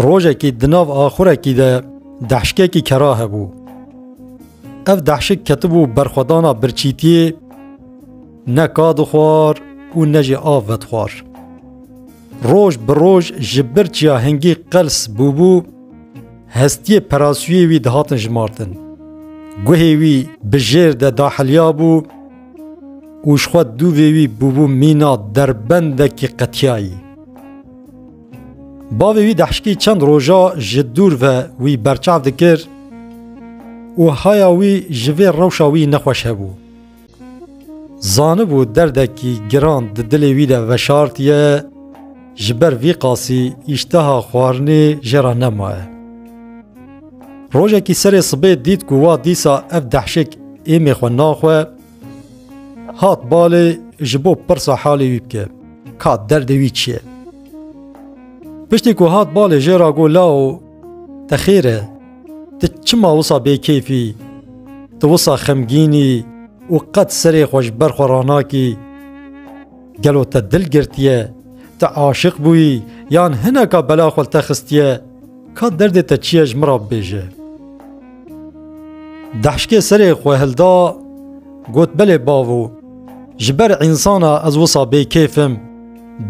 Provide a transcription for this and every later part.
Rojekî di nav axurekî de dehşkekî kera hebû. Ev dehşik ketibû berxwedana birçîtiyê ne ka dixwar û ne jî av vedixwar. Roj bi roj ji birçiya hingî qels bûbû, hestiyê perasûyê wî dihatin jimartin. Guhê wî bi jêr de daheliyabû, û ji xwe dû vê wî bûbû mîna derbendekî qetiyayî. Bavê wî dehşkî çend roja ji dûr ve wî berçav dikir û haya wî ji vê rewşa wî nexweş hebû. Zanibû derdekî giran di dilê wî de veşartiye, Ji ber vî qasî îşteha xwarinê jê re nemaye. Rojekî serê sibê dît ku wa dîsa ev dehşek êmê xwe naxwe, hat balê ji bo pirsa halê wî bike, ka derdê wî çi ye. Piştî ku hat balê jê re got lao, te xêr e, tu çima wisa bêkêfî, tu wisa xemgînî û qet serê xwe ji ber xwe ranakî, Gelo te dil girtiye, te aşiq bûyî yan hineka bela xwe li te xistiye, ka derdê te çi ye ji min re bibêje. Dehşkê serê xwe hilda got belê bavo, ji ber însana ez wisa bêkêf im,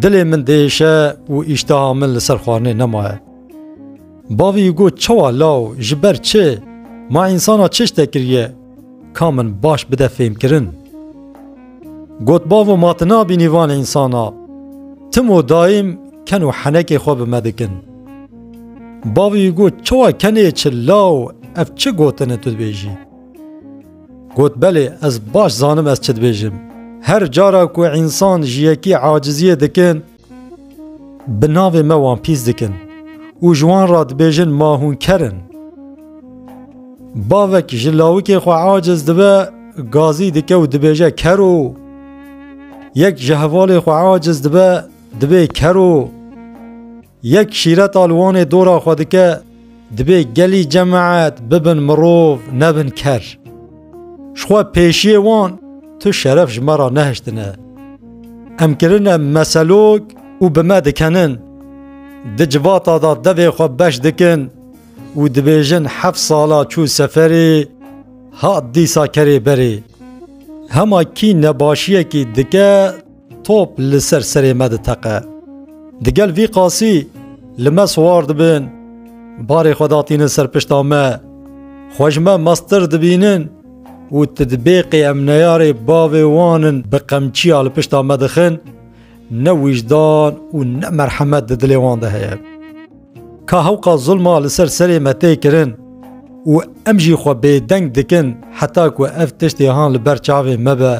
dilê min diêşe û îştiha min li ser xwarinê nemaye. Bavî got çawa law, ji ber çi, ma însana çi ji te kiriye? Ka min baş bide fêmkirin. Got bavo ma ti nabînî van însan a. Tim û dayîm ken û henekê xwe bi me dikin. Bavî wî got çawa kenê çi law ev çi gotin e tu dibêjî. Got belê ez baş zanim ez çi dibêjim. Her cara ku însan ji yekî aciziyê dikin, Bi navê me wan pîs dikin. Û ji wan re dibêjin ma hûn ker in. Bavek ji lawikê xwe aciz dibe gazî dike û dibêje kero. Yek ji hevalê xwe aciz dibe dibê kero. Yek şîreta li wanê dora xwe dike Dibê gelî cemaet bibin mirov nebin ker. Jixwe pêşiyê wan tu şeref ji me re nehiştine. Em kirine meselok û bi me dikenin. Di civata de devê xwe beş dikin û dibêjin heft sala çû seferê hat dîsa kerê berê. Hema kî nebaşiyekî dike Top li ser serê me diteqe. Digel vî qasî li me siwar dibin, barê xwe datînin ser pişta me. Xwe ji me meztir dibînin û tu dibêqê em neyarê bavê wan in bi qemçiya li pişta me dixin, ne wijdan û ne merhemet di dilê wan de heye. Ka hewqa zulma li ser serê me tê kirin û em jî xwe bêdeng dikin heta ku ev tiştê han li ber çavê me be,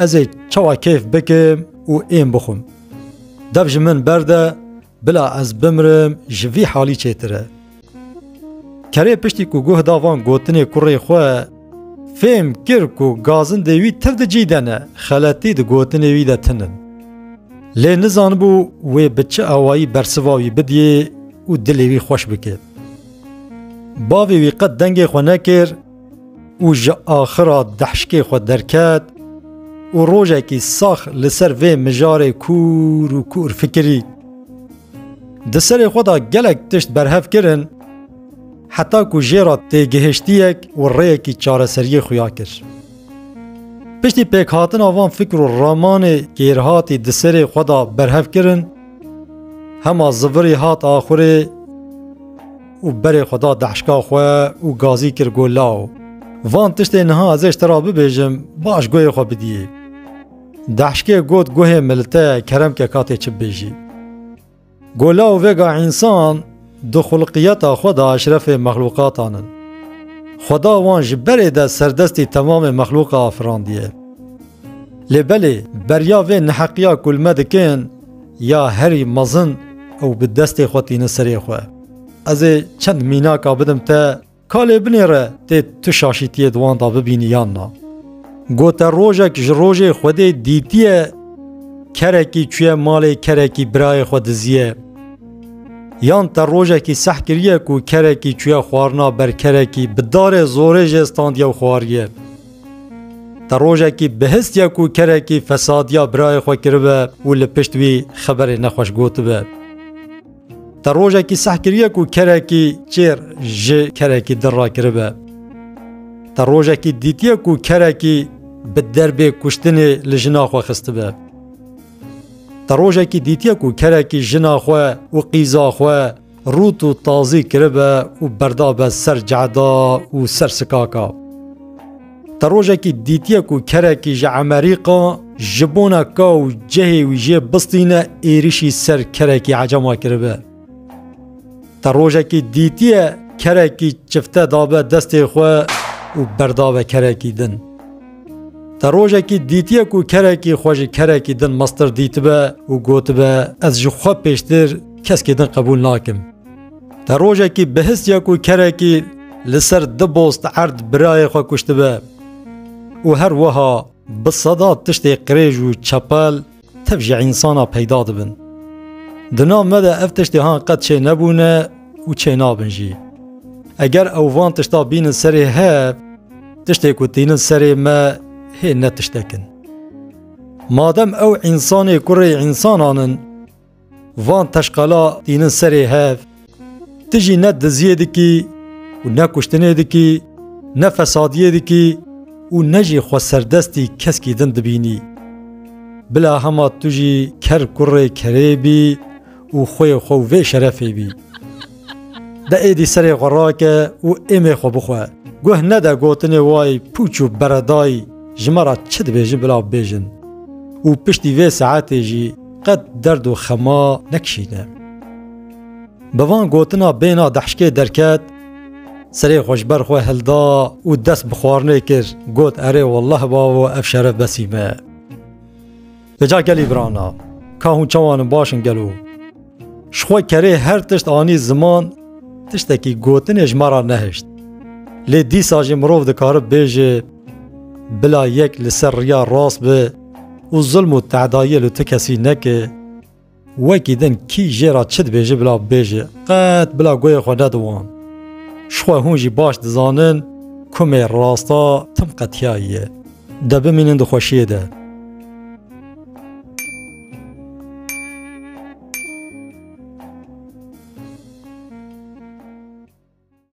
ez ê çawa keyf bikim û ên bixwim. Dev ji min berde, bila ez bimrim ji vî halî çêtir e. Kerê piştî ku guh da van gotinê kurê xwe, Fêm kir ku gazin dê wî tir di cî de ne, xeletî di gotinê wî de tin in. Lê nizanibû wê bi çi awayî bersiva wî bidiyê û dilê wî xweş bike. Bavê wî qet dengê xwe nekir û ji axira dehşkê xwe derket û rojekî sax li ser vê mijarê kûr û kûr fikirî. Di serê xwe de gelek tişt berhev kirin, Heta ku jê re tê gihiştiyek û rêyekî çareseriyê xuya kir. Piştî pêkhatina van fikr û ramanê kêrhatî di serê xwe de berhev kirin, hema zivirî hat axurê û berê xwe da deşka xwe û gazî kir go law. Van tiştê niha ez ê ji te re bibêjim, baş guhê xwe bidiyê. Deşkê got guhê milite keremke ka tê çi bibêjî. Gola û vega însan di xulqiyeta xwe de eşrefê mexlûqatan in. Xweda wan ji berê de serdestî temamê mexlûqa afirandiye. Lê belê beriya vê neheqiya ku li me dikin ya herî mezin û bi destê xwe tînin serê xwe. Ez ê çend mînaka bidim te. Ka lê binêre tê tu şaşîtiyê di wan da bibînî yan na. Gote rojek ji rojê Xwedê dîtiye kerekî çûye malê kerekî birayê xwe diziye. Yan te rojekî seh kiriye ku kerekî çûye xwarina ber kerekî bi darê zorê jê standiye û xwariye. Te rojekî bihistiye ku kerekî fesadiya birayê xwe kiribe û li pişt wî xeberê nexweş gotibe. Te rojekî seh kiriye ku kerekî çêr ji kerekî dir rakiribe. Te rojekî dîtiye ku kerekî bi derbê kuştinê li jina xwe xistibe. Te rojekî dîtiye ku kerekî jina xwe û qîza xwe rût û tazî kiribe û berdabe ser ceda û ser sikaka. Te rojekî dîtiye ku kerekî ji Emerîka ji bona ka û cihê wî jê bistîne êrişî ser kerekî ecama kiribe? Te rojekî dîtiye kerekî çifte dabe destê xwe û berdabe kerekî din? Te rojekî dîtiye ku kerekî xwe ji kerekî din mestir dîtibe û gotibe ez ji xwe pêştir keskê din qebûl nakim? Te rojekî bihist ya ku kerekî li ser du bost erd birayê xwe kuştibe û her wiha bi seda tiştê qirêj û çepel tev ji însana peyda dibin. Di nav me de ev tiştê han qet çê nebûne û çê nabin jî. Eger ew van tişta bînin serê hev, tiştê ku tînin serê me hê ne tiştekin. Madem ew însanê kurê însanan in, Van teşqala tînin serê hev. Ti jî ne diziyê dikî û ne kuştinê dikî, ne fesadiyê dikî û ne jî xwe serdestî keskî din dibînî. Bila hema tu jî ker kurê kerê bî û xwê xwe vê şerefê bî. De êdî serê xwe rake û êmê xwe bixwe. Guh nede gotinê wayî pûç û beredayî ji me re çi dibêjin bila bibêjin û piştî vê saetê jî Qet derd û xema nekişîne. Bi van gotina bêna dehşkê derket, serê xwe ji ber xwe hilda û dest bi xwarinê kir, got erê welleh bavo ev şeref besî me ye. Li ca gelî birana, ka hûn çawan in baş in gelo? Ji xwe kerê her tişt anî ziman, tiştekî gotinê ji me re nehişt. Lê dîsa jî mirov dikare bêje, bila yek li ser riya rast be, Û zulm û te'dayî li tu kesî neke. Wekî din kî jê re çi dibêje bila bibêje, qet bila goyê xwe nede wan. Jixwe hûn jî baş dizanin ku me rasta tim qetiyayî ye. De bimînin di xweşiyê de.